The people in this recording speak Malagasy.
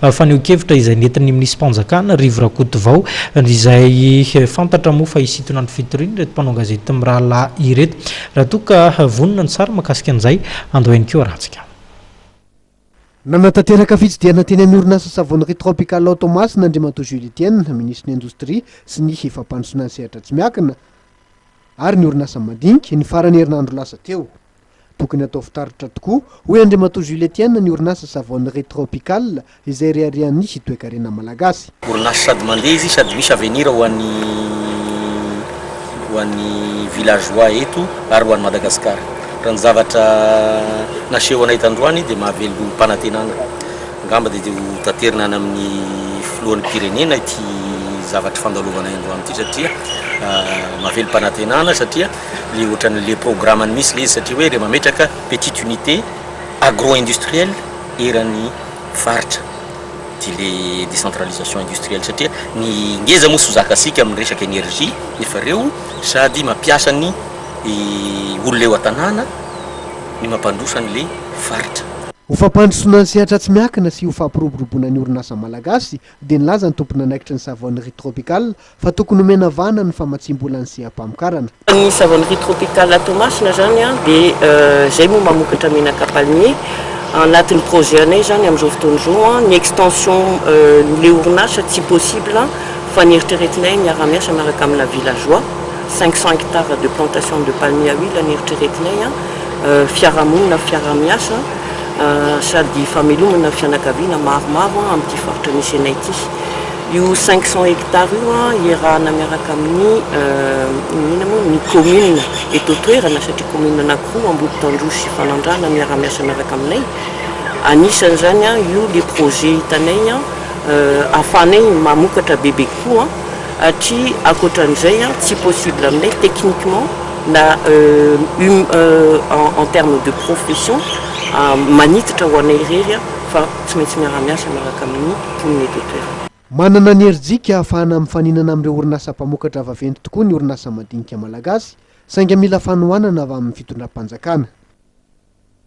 Fanehoan-kevitra izay nentin'ny minisi-panjakana, Rivo Rakotovao, izay fantatra moa fa hisintona ny fitoriana ireto mpanao gazety mirahalahy ireto. Raha toa ka vonona ny sary mahakasika an'izay, andao ihany koa arantsika. Nanatanteraka fitsidihana teny amin'ny orinasa Savonnerie Tropical ao Toamasina Andriamatoa Jules Etienne, minisitry ny Indostria sy ny fampandrosoana ny sehatra tsy miankina ary ny orinasa madinika, ny faran'ny herinandro lasa teo. Tokony atao fitaratra tokoa, hoy Andriamatoa Jules Etienne ny orinasa Savonnerie Tropical izay reharehan'ny sy toekarena malagasy. Orinasa sady mandeha izy sady misy avenir ho an'ny ho an'ny villageois eto ary ho an'i Madagascar. Raha ny zavatra nasehonay tandroany dia mahavelom-panantenana. Angamba dia ho taterina any amin'ny filohan'ny mpirenena ity zavatry fandalovanay androany ity satria mahavelom-panantenana satria. le ohatran'ny le programany mihitsy le izy satria hoe rehefa mametraka petite unité agro industrielle eran'ny faritra dia le décentralisation industrielle satria ny ngeza moa tsy ho zakasika amin'ny resaka énergie nefa ireo sady mampiasa ny olona eo an-tanàna ny mampandroso an'le faritra. Ho fampandrosoana ny sehatra tsy miankina sy ho fampiroboroboana ny orinasa malagasy dia nilaza ny tompon'anaikitry ny Savonnerie Tropicale Fa tokony omena vahana ny famatsiam-bola ny seha-pamokarana. Ny savonnerie tropicale à Toamasina zany dia zay moa mamokatra menaka palmier anatin'ny projet anay zany amin'izao fotoana izao ny extension n'le orinasa tsy possible fa ny eritreretinay miara-miasa miaraka amina villageois cinq cents hectares de plantation de palmier à huile ny eritreretinay fiarahamonina fiaraha-miasa sady famelomana fianakaviana maromaro amin'ity faritra misy anay ity. Io cinq cents hectares io iarahana miaraka amin'ny inona moa ny commune eto an-toerana satria commune anankiroa Ambolitandroy sy Fanandrana miara-miasa miaraka aminay. Anisan'izany io le projet hitanay ahafahanay mamokatra bebe kokoa satria ankoatra an'izay tsy possible aminay techniquement na en terme de profession manitatra ho anay irery fa tsy maintsy miara-miasa miaraka amin'ny mponina eto an-toerana. Manana ny herijika ahafahana mifaninana amin'ireo orinasa mpamokatra vaventy tokoa ny orinasa madinika malagasy, saingy mila fanohanana avy amin'ny fitondram-panjakana.